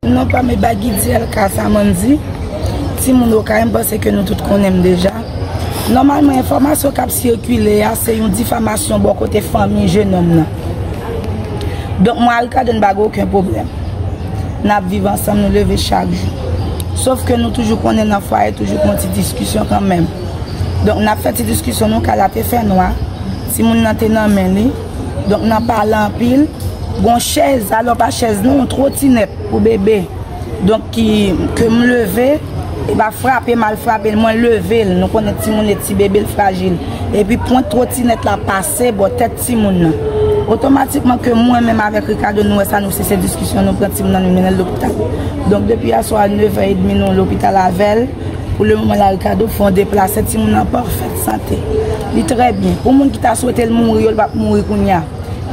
Non pa me bagy diel ka sa man di ti moun okay m panse ke nou tout konnen m deja nòmalman enfòmasyon kap sikile a se yon difamasyon bò kote fanmi jenòm nan donk mwen a Ricardo n bagen oken pwoblèm nap viv ansanm nou leve chak jou sof ke nou toujou konnen nan fwaye toujou gon ti diskisyon kanmèm donk nap fè ti diskisyon nou kay la te fè nwa ti moun nan te nan men li. Donk nan pale anpil, gon chèz, alò pa chèz non, yon twotinèt pou bebe. Donk ki, ke m leve, e pa frape m al frape l, mwen leve l, nou konnen timoun e ti bebe l frajil. E pi pwent twotinèt la pase bò tèt timoun nan. Otomatikman ke mwen menm avèk Ricardo nou wè sa nou sise diskisyon nou pran timoun nan nou mennen l lopital. Donk depi yè swa 9 è edmi nou lopital avè l. Pou le moman la Ricardo fè yon deplase timoun nan an pafèt sante li trè byen pou moun ki ta swetel mouri yo li pap mouri kounya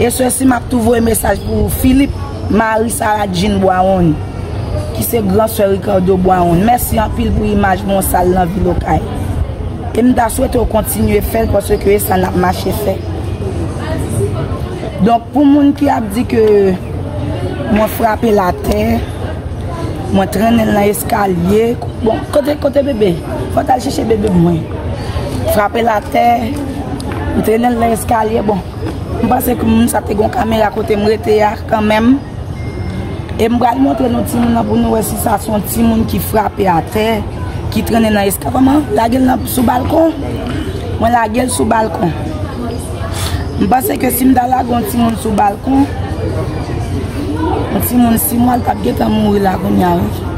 e sè si map tou voye mesaj pou Philippe mari Sarah Jean Boiron ki se gran sè Ricardo Boiron mèsi anpil pou imaj bon sal nan vil okay e m ta swete ou kontinye fèl paske e sa nap mache fè donk pou moun ki ap di ke mwen frape la tè. Mwen trennen l nan eskalye. Bon, kote, kote bebe? Mwen tal chèche bebe mwen. Frape l atè. Mwen trennen l nan eskalye. Bon, mwen panse ke moun sa te gon kamera kote mwen rete a kanmenm. E mwen pral montre nou ti moun nan pou nou wè si sa son ti moun ki frape atè, ki trennen nan eskalye. Koman? Lage l nan sou balkon? Mwen lage l sou balkon. M panse ke si m ta lage yon timoun sou balkon, yon timoun 6 mwa l tap gentan mouri la kounya wi.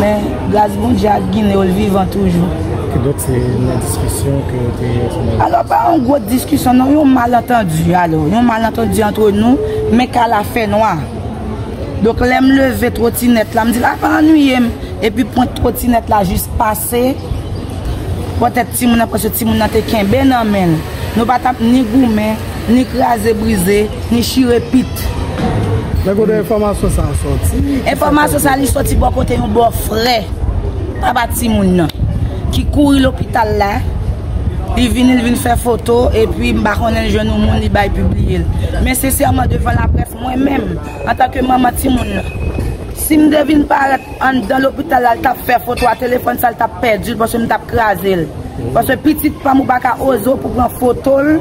Men gras Bondye ak Gine yo l vivan toujou. Ki donk se nan diskisyon ke yo te yon ti mal. Alò pa yon gwo diskisyon non, yon malantandi alò. Yon malantandi antre nou, men kay la fè nwa. Donk lè m leve twotinèt la, m di l ap annuiye m. Epi pwent twotinèt la jis pase. bò tèt timoun nan paske timoun nan te kenbe nan men l. Nou pa t ap ni goumen, ni kraze brize, ni chire pit. Men kote enfòmasyon sa a sòti? Enfòmasyon sa a li sòti bò kote yon bò frè papa timoun nan ki kouri lopital la, li vini li vin fè foto epi m pa konnen li jwenn yon moun li bay pibliye l. Men sensèman devan laprès mwen menm antanke manman timoun nan si m te vin parèt Anndan lopital la li tap fè foto a telefòn sa li tap pèdil paske m tap krazel paske pitit pam ou paka oze w pou pran fotol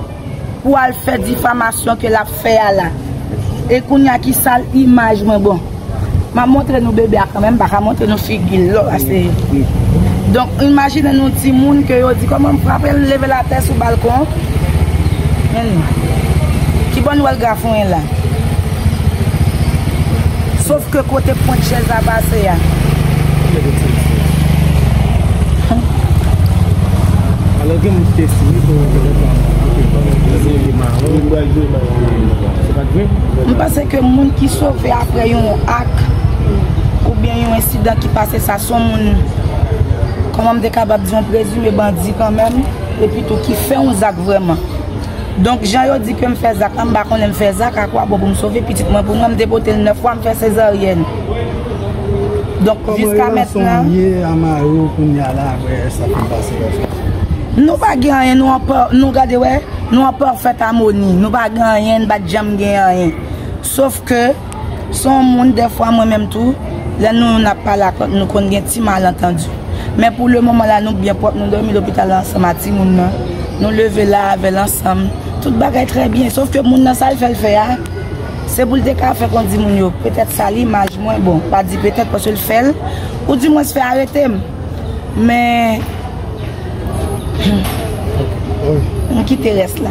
pou al fè difamasyon ke lap fè a la e kounya ki sal imaj mwen bon map montre nou bebe a kanmèm m paka montre nou figil lò pase donk imajine nou timoun ke yo di kòman m frapel m level atè sou balkon men nou kibò nou wèl grafonyen la Sof ke kote pwent chèz la pase a. Kile de ti misye. Alo gen moun kite sou li pou yon kile pa. M pase ke moun ki sove apre yon ak ou byen yon ensidan ki pase sa son moun koman m dekabab di yon prezime bandi kanmen epi tou ki fè yon zak vreman. Donk jan yo di ke m fè zak la, m pa konnen m fè zak a kwa bon pou m sove pitit mwen pou mwen, m te pote l 9 fwa, m fè sezaryèn. Donk jiska mètnan. Kòman relasyon w ye a mari w kounye a la aprè sa fin pase yo fè? Nou pa gen anyen, nou an pa, nou gade wè, nou an pafèt amoni. Nou pa gen anyen, n pa janm gen anyen. Sof ke. Son moun dèfwa mwen menm tou lè nou youn ap pale ak lòt nou konn gen ti malantandi men pou le moman la nou byen pwòp nou dòmi lopital la ansanm a timoun nan nou leve la avèl ansanm tout bagay trè byen sof ke moun nan sal fèl fè a se poul te ka fè kondi moun yo petèt sal imaj mwen bon pa di petèt paske l fèl ou di mwens fè aretem men humm m kite rès la.